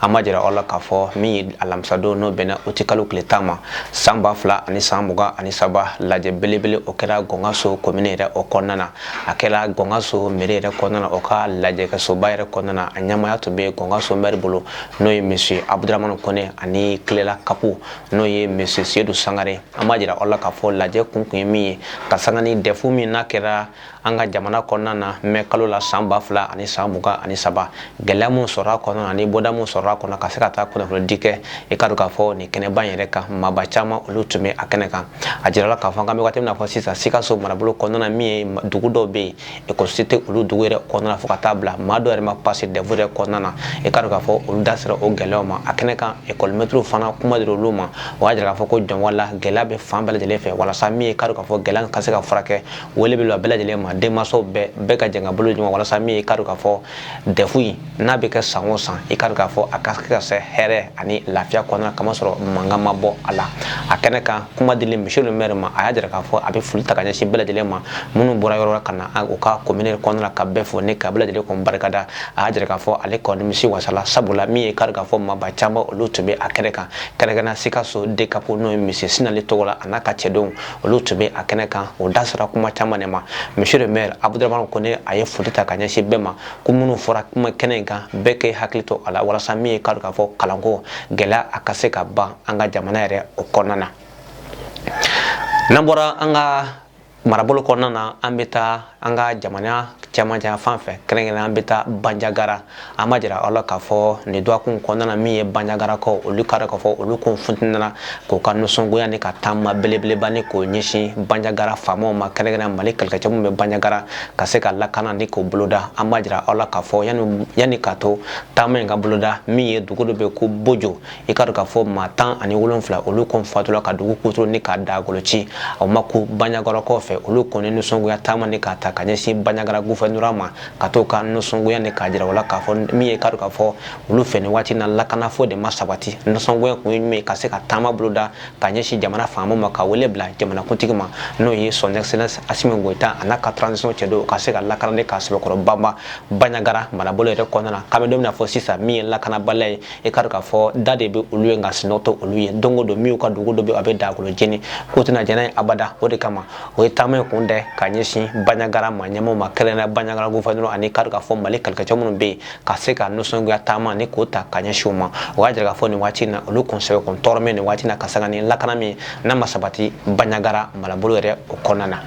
an b'a jira aw la k'a fɔ min ye alamisadon n'o bɛnna uti kalo tile tan ma san ba fila ani san mugan ani saba lajɛ belebele o kɛra gɔngaso komini yɛrɛ o kɔnɔna na a kɛra gɔngaso mɛri yɛrɛ kɔnɔna na o ka lajɛkɛsoba yɛrɛ kɔnɔna na a ɲɛmaaya tun bɛ gɔngaso mɛri bolo n'o ye monsieur abudramani kɔnɛ ani kilela kapu n'o ye monsieur sedu sangare an b'a jira aw la k'a fɔ lajɛ kun kun ye min ye ka sanga ni dɛfu min n'a kɛra an ka jamana kɔnɔna na mɛ kalo la san ba fila ani san mugan ani saba gɛlɛya minnu sɔrɔ a kɔnɔ ani bɔda minnu sɔrɔ a kɔnɔ ka se ka taa kunnafonidi kɛ i k'a dɔn k'a fɔ nin kɛnɛba in yɛrɛ kan maaba caman olu tun bɛ a kɛnɛ kan a jirala k'a fɔ k'an bɛ waati min na fo sisan sikaso marabolo kɔnɔna min ye dugu dɔw bɛ yen ekɔliso tɛ olu dugu yɛrɛ kɔnɔna fo ka t'a bila maa dɔw yɛrɛ ma pase dɛfu yɛrɛ kɔnɔna na i k'a dɔn k'a fɔ olu da sera o gɛlɛyaw ma a kɛnɛ kan ekɔlimɛtiriw fana kuma dira olu ma o y'a jira k'a fɔ ko jɔnwala gɛlɛya bɛ fan bɛɛ lajɛlen fɛ walasa min ye k'a dɔn k'a fɔ gɛlɛya ka se ka furakɛ wele bila bɛɛ lajɛlen ma denmansaw bɛɛ bɛɛ ka jɛn ka bolo di ɲɔgɔn ma walasa min ye k'a dɔn k'a fɔ dɛfu in n'a bɛ kɛ san o san i k'a dɔn k'a fɔ a ka se ka se hɛrɛ ani lafiya kɔnɔna k'a ma sɔrɔ mankan ma bɔ a la a kɛnɛ kan kuma dilen monsieur le maire ma a y'a jira k'a fɔ a bɛ foli ta ka ɲɛsin bɛɛ lajɛlen ma minnu bɔra yɔrɔ ka na u ka komini kɔnɔna ka bɛɛ fo ni ka bɛɛ lajɛlen kɔn barikada a y'a jira k'a fɔ ale kɔni misi wasala sabula min ye k'a dɔn k'a fɔ maaba caman olu tun bɛ a kɛnɛ kan kɛrɛnkɛrɛn sikaso dekapu n'o ye monsieur sinali togola a n'a ka cɛdenw olu tun bɛ a kɛnɛ kan o da sera kuma caman de ma monsieur le maire abudramani kone a ye foli ta ka ɲɛsin bɛɛ ma ko minnu fɔra kuma kɛnɛ in kan bɛɛ k'i hakili to a la walasa min ye k'a dɔn k'a fɔ kalanko gɛlɛya a ka se ka ban an ka jamana yɛrɛ o kɔnɔna na n'an bɔra an ka marabolo kɔnɔna na an bɛ taa an ka jamana cɛmancɛ fan fɛ kɛrɛnkɛrɛn an bɛ taa banjagara an b'a jira aw la k'a fɔ nin dɔgɔkun kɔnɔna na min ye banjagarakaw olu k'a dɔn k'a fɔ olu kɔni funtina k'u ka nisɔngoya ni ka taama belebeleba ni k'o ɲɛsin banjagara faamaw ma kɛrɛnkɛrɛn mali kɛlɛkɛcɛ minnu bɛ banjagara ka se ka lakana ni k'o boloda an b'a jira aw la k'a fɔ yanni yanni ka to taama in ka boloda min ye dugu dɔ bɛ ko bojo i k'a dɔn k'a fɔ maa tan ani wolonfila olu kɔn fatula ka dugu kutoro ni k'a da goloci o ma kun banjagarakaw fɛ olu kɔni nisɔngoya taama ni k'a ta ka ɲɛsin banjagara gouverneur ma ka t'u ka nisɔngoya ni k'a jira o la k'a fɔ min ye k'a dɔn k'a fɔ olu fɛ ni waati na lakana fo de ma sabati nisɔngoya kun ye min ka se ka taama boloda ka ɲɛsin jamana faamaw ma ka wele bila jamanakuntigi ma n'o ye son excellence asimi goyita a n'a ka transition cɛdenw ka se ka lakana ni k'a sɛbɛkɔrɔ banba banjagara marabolo yɛrɛ kɔnɔna na k'an bɛ don min na fo sisan min ye lakanabaliya ye e k'a dɔn k'a fɔ da de bɛ olu ye nka sinɔ tɛ olu ye don o don min ka dugu dɔ bɛ a bɛ dakolo jeni k'o tɛna jɛn n'a ye abada o de kama o ye taama in kun dɛ ka ɲɛsin banyagara ma ɲɛmɔgɔ ma kɛrɛnkɛrɛnnenya banyagara gofɛrɛnaman ani k'a dɔn k'a fɔ mali kɛlɛkɛcɛ minnu bɛ yen ka se ka nisɔngoya taama ni k'o ta ka ɲɛsin o ma o y'a jira k'a fɔ nin waati in na olu kɔn sɛbɛ kɔni tɔɔrɔ bɛ nin waati in na ka sanga ni lakana min n'a ma sabati banyagara marabolo yɛrɛ o kɔnɔna na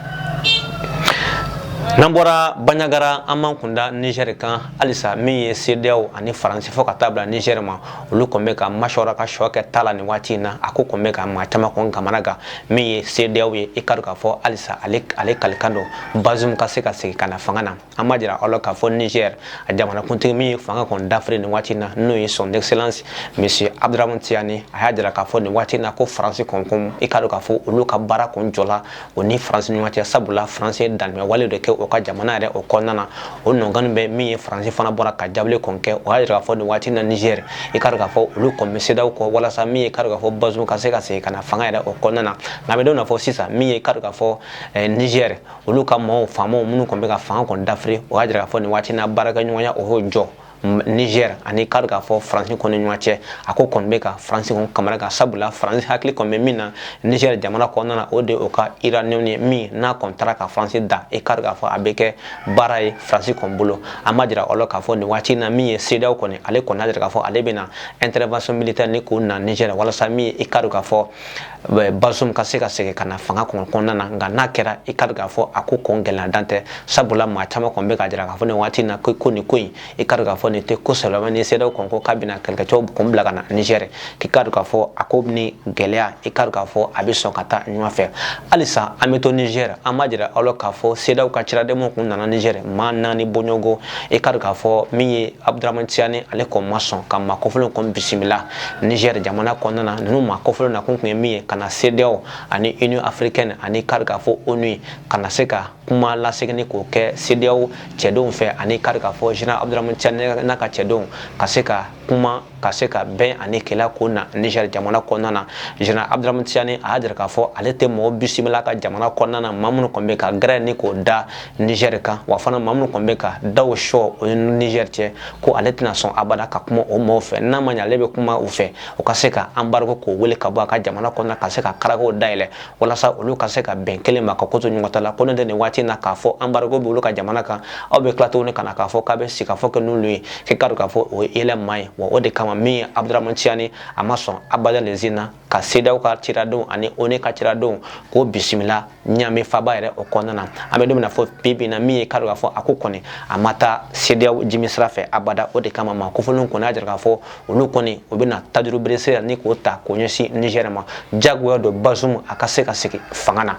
n'an bɔra banyagara an b'an kunda nizɛri kan halisa min ye sedeyaw ani faransi fɔ ka taa bila nigɛr ma olu kɔn bɛ ka masɔrɔ ka sɔ kɛ ta la nin waati in na a ko kɔn bɛ ka maa caman kɔn kamanagan min ye sedeyaw ye i k'a dɔn k'a fɔ halisa ale ale kalikan don bazum ka se ka segin ka na fanga na an b'a jira aw la k'a fɔ nigɛr a jamanakuntigi min ye fanga kɔn dafiri nin waati in na n'o ye son excellence monsieur abdramane tiyani a y'a jira k'a fɔ nin waati in na ko faransi kɔn kɔn i ka dɔn k'a fɔ olu ka baara kɔn jɔla o ni faransi ɲɔgɔn cɛ sabula faransi ye dantɛmɛwale de kɛ o ka jamana yɛrɛ o kɔnɔna na o nɔngɔn bɛ min ye faransi fana bɔra ka jaabili kɔn kɛ o y'a jira k'a fɔ nin waati na nizɛri i k'a dɔn k'a fɔ olu kɔn bɛ sedeyaw kɔ walasa min ye k'a dɔn k'a fɔ bazum ka se ka segin ka na fanga yɛrɛ o kɔnɔna na nka bɛ dɔn fɔ sisan min ye k'a dɔn k'a fɔ eh, nizɛri olu ka maaw faamaw minnu kɔn bɛ ka fanga kɔn dafiri o y'a jira k'a fɔ nin waati na baarakɛɲɔgɔnya o y'o jɔ Niger ani i k'a k'a fɔ Faransi kɔni ɲɔgɔn cɛ a ko kɔni bɛ ka Faransi kɔni kamanagan sabula Faransi hakili kɔni bɛ min na Niger jamana kɔnɔna na o de o ka uranium ye min n'a kɔni tara ka Faransi dan e k'a k'a fɔ a bɛ kɛ baara ye Faransi kɔni bolo an b'a jira aw la k'a fɔ nin waati in na min ye CEDEAO kɔni ale kɔni y'a jira k'a fɔ ale bɛna intervention militaire ni k'o na Niger walasa min ye e k'a k'a fɔ bazum ka se ka segin ka na fanga kɔnɔ kɔnɔna na nka n'a kɛra i ka k'a fɔ a ko kɔn gɛlɛya dan tɛ sabula maa caman kɔni bɛ ka jira k'a fɔ nin waati in na ko ko nin ko in i ka k'a fɔ nin tɛ ko sɛbɛ ni sedeyaw kɔn ko k'a bɛna kɛlɛkɛcɛw kɔn bila ka na nizɛri k'i ka k'a fɔ a ko ni gɛlɛya i ka k'a fɔ a bɛ sɔn ka taa ɲɔgɔn fɛ halisa an bɛ to nizɛri an b'a jira aw la k'a fɔ sedeyaw ka ciradenw kun nana nizɛri maa naani bɔɲɔgɔnko i ka k'a fɔ min ye abdramane tiyani ale kɔn ma sɔn ka maa kɔfɔlenw kɔn bisimila Niger jamana kɔnɔna na ninnu maa kɔfɔlen na kun tun ye min ye ka na CEDEAO ani Union africaine ani k'a dɔn k'a fɔ ONU ka na se ka kuma laseginni k'o kɛ CEDEAO cɛdenw fɛ ani k'a dɔn k'a fɔ Général Abdramane Tchani n'a ka cɛdenw ka se ka kuma ka se ka bɛn ani kɛlɛ ko na Niger jamana kɔnɔna na Général Abdramane Tchani a y'a jira k'a fɔ ale tɛ mɔgɔ bisimila ka jamana kɔnɔna na maa minnu kɔni bɛ ka gɛrɛ ni k'o da Niger kan wa fana maa minnu kɔni bɛ ka daw sɔ o ni Niger cɛ ko ale tɛna sɔn abada ka kuma o mɔgɔw fɛ n'a ma ɲɛ ale bɛ kuma u fɛ u ka se ka embargo k'o wuli ka bɔ a ka jamana kɔnɔna ka se ka karakow dayɛlɛ walasa olu ka se ka bɛn kelen ma ka ko to ɲɔgɔn ta la ko n'o tɛ nin waati in na k'a fɔ embargo bɛ olu ka jamana kan aw bɛ tila tuguni ka na k'a fɔ k'a bɛ sigikafɔ kɛ n'olu ye k'i k'a dɔn k'a fɔ o ye yɛlɛ maa ye wa o de kama min ye abdramane tiyani a ma sɔn abada nin sin na ka CEDEAO ka ciradenw ani ONU ka ciradenw k'o bisimila Ɲamɛ faaba yɛrɛ o kɔnɔna na an bɛ don min na fɔ bibi na min ye k'a dɔn k'a fɔ a ko kɔni a ma taa CEDEAO jimi sira fɛ abada o de kama maa kofɔlenw kɔni y'a jira k'a fɔ olu kɔni u bɛna tajuru beresira ni k'o ta k'o ɲɛsin Niger ma jagoya don Bazum a ka se ka sigi fanga na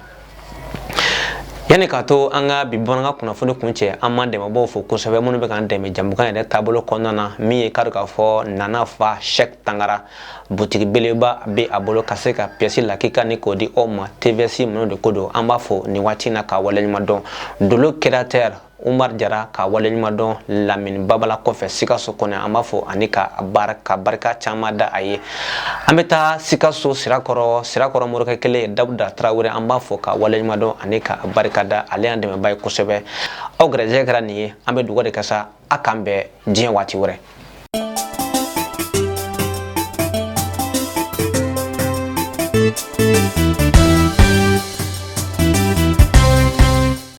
yanni k'a to an ka bi bamanankan kunnafoni kuncɛ an b'an dɛmɛbaaw fo kosɛbɛ minnu bɛ k'an dɛmɛ jamukan yɛrɛ taabolo kɔnɔna na min ye k'a dɔn k'a fɔ Nana fa Sɛki Tangara butigi beleba bɛ a bolo ka se ka piyɛsi lakika ni k'o di aw ma TVS minnu de ko don an b'a fo nin waati in na k'a waleɲuman dɔn Dolo créateur Umaru Jara k'a waleɲuman dɔn Lamini Babala kɔfɛ Sikaso kɔnɔ an b'a fo ani ka barika caman da a ye an bɛ taa Sikaso sirakɔrɔ sirakɔrɔ morikɛ kelen Dawuda Tarawele an b'a fo k'a waleɲuman dɔn ani k'a barika da ale y'an dɛmɛbaa ye kosɛbɛ aw garijɛgɛ kɛra nin ye an bɛ dugawu de kɛ sa a k'an bɛn diɲɛ waati wɛrɛ